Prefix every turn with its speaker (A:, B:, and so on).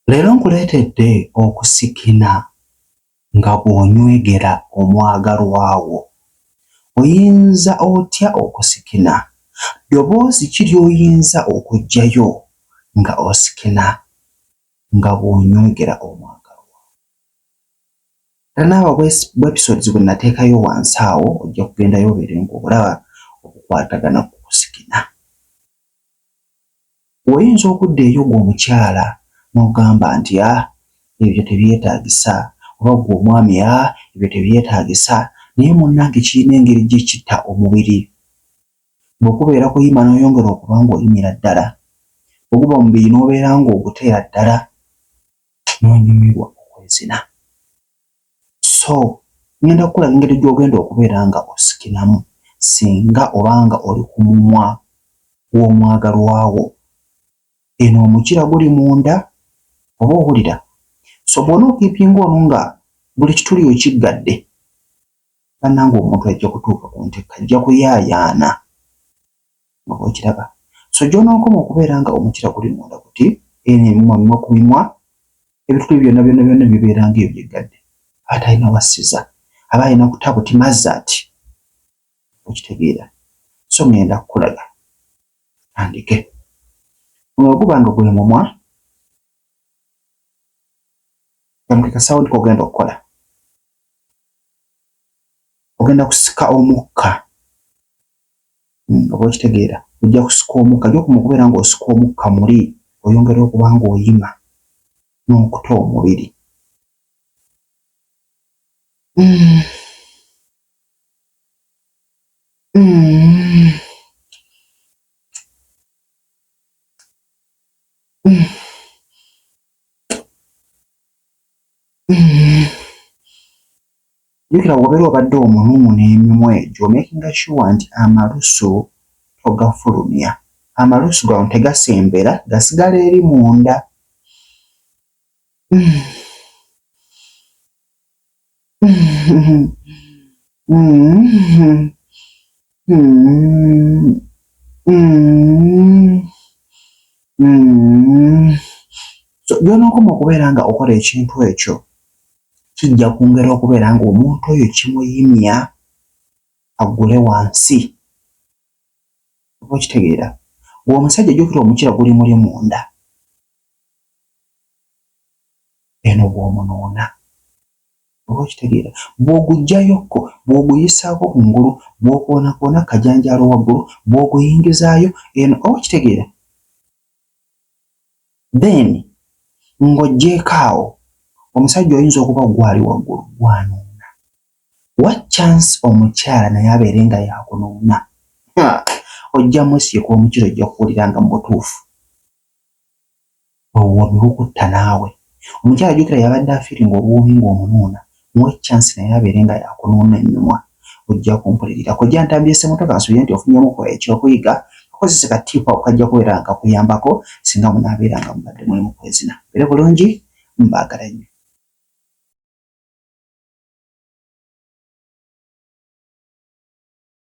A: Leero nkuleetedde okusikina nga bw'onywegera omwagalwa wo. Oyinza otya okusikina? Ddoboozi ki ly'oyinza okuggyayo nga osikina nga bw'onywegera omwagalwa wo? Tanaaba bwepisodes bwe nateekayo wansi awo, ojja kugendayo obeere ng'olaba obukwatagana ku kusikina. Oyinza okudda eri ogwo omukyala n'ogamba nti, Ah, ebyo tebyetaagisa, oba ggwe omwami, Ah, ebyo tebyetaagisa. Naye, munnange, kirina engeri gye kitta omubiri. Bwe kubeera kuyima n'oyongera okuba ng'oyimira ddala, bwe guba mubiri n'obeera ng'oguteera ddala, n'onyumirwa okwezina. so ngenda kukulaga engeri gy'ogenda okubeera nga osikinamu singa obanga oli ku mumwa gw'omwagalwawo eno omukira guli munda oba owulira so bwona okipinga ono nga buli kituli okiggadde bannanga omuntu ajja kutuuka ku ntekka ajja kuyaayaana nga bw'okiraba. So gy'onookoma okubeera nga omukira guli munda guti, eno emimwa mimwa ku mimwa, ebituli byonna byonna byonna bibeera ng'ebyo byeggadde. Aba talina wassiza, aba alina kuta buti mazati. Okitegeera? So ŋŋenda kukulaga. Andike. Ono bwe guba nga gwe mumwa, kamuke kasawundi k'ogenda okukola. Ogenda kusika omukka. Hmm, oba okitegeera ojja kusika omukka gyokuma okubeera ng'osika omukka muli oyongera okuba ng'oyima n'okuta omubiri hmm. Hmm. Jukira wobera obadde omunumu nemimwa egyo omakinga sure nti amalusu togafulumya amalusu gano tegasembera gasigala eri munda so byonokoma okubeera nga okola ekintu ekyo kijja kwongera okubeera ng'omuntu oyo kimuyimya aggule wansi. Oba okitegeera? Ng'omusajja jjukira omukira guli muli munda. Eno bw'omunoona. Oba okitegeera? Bw'oguggyayokko, bw'oguyisaako ku ngulu, bw'okoonakoona kajanjaalo waggulu, bw'oguyingizaayo eno. Oba okitegeera? then ng'oggyeeko awo omusajja oyinza okuba gwali waggulu gwanuuna wa chance omukyala naye abeere nga yakunuuna ojja musiika omukiro ojja kuwulira nga mu butuufu obuwoomi bukutta naawe omukyala jukira yabadde afiri nga obuwoomi ng'omunuuna Muwe chance naye abeere nga yakunuuna enyumwa ojja kumpulirira. Kojja Ntambi Ssemotoka nsuubira nti ofunyemu ko ekyokuyiga kakozese ka tip ako kajja kubeera nga kakuyambako singa munaabeera nga mubadde muli mu kwezina. Mubeere bulungi mbaagala nnyo.